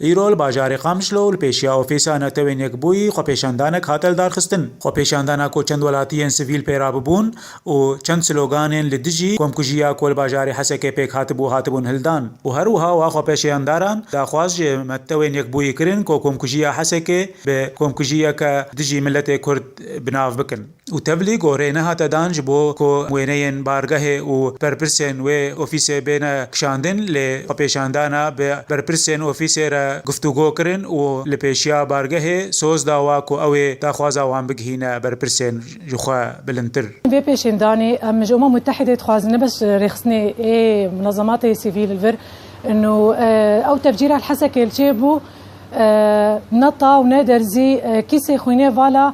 Îro li bajarê Qamişlo û li pêşiya ofîsa Netewên Yekbûyî xwepêşandanek hate lidarxistin. Xwepêşandana ku çend welatiyên sivîl pêra bibûn û çend sloganên li dijî komkujiya ku li bajarê Hesekê pêk hatibû hatibûn hildan û her wiha wa xwepêşeyandaran daxwaz ji Metewên Yekbûyî kirin ku komkujiya Hesekê bi komkujiyeke dijî miletê Kurd bi nav bikin. û tevlî gorê nehate dan ji bo ku wêneyên bargehê û berpirsên wê ofîsê bêne kişandin lê xwepêşandana bi berpirsên ofîsê re guftûgo kirin û li pêşiya bargehê soz dawa ku ew ê daxwaza wan bigihîne berpirsên ji xwe bilindtir. Vê pêşêndanê em ji Umam Mutehedê dixwazin ne bes rêxistinê ê munezematê sivîl li vir in û ew tevcîra li Hesekê li çêbû ne ta û ne derzî kîsê xwînê vala,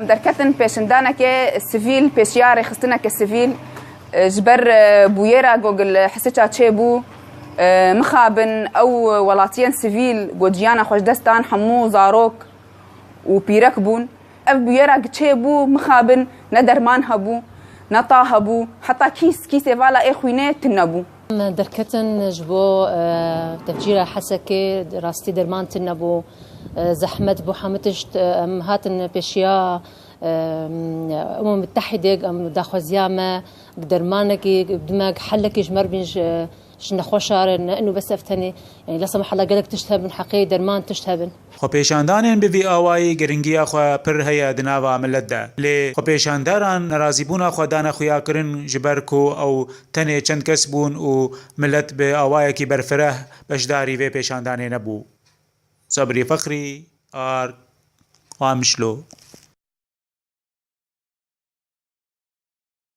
Derketin pêşindanekê sivîl, pêşiya rêxistinekê sivîl ji ber bûyêra ku gil Hisiça çêbû, mixabin ew welatiyên sivîl ku ciyana xwe ji dest dan hemû zarok û pîrek bûn. Ev bûyêra ku çêbû mixabin ne derman hebû, ne ta hebû, heta kîs, kîsê vala ê xwînê tune bû. Derketin ji bo tevcîra Hesekê rastî derman tune bû, zehmet bû hemû tişt. Em hatin pêşiya Umam Mutehîdê em daxwaziya me dermanekî bidime, helekî ji merivîn ji nexweşarin ne ino bes ev tenê. Lasa me hela gelek tişt hebin heqê derman tişt hebin. Xwepêşandanên bi vî awayî girîngiya xwe pir heye di nava milet de. Lê xwepêşanderan nerazîbûna xwe dane xuyakirin ji ber ku ew tenê çend kes bûn û milet bi awayekî berfireh beşdarî vê pêşandanê nebû. Sabrî Feqrî, Ard, Qamişlo.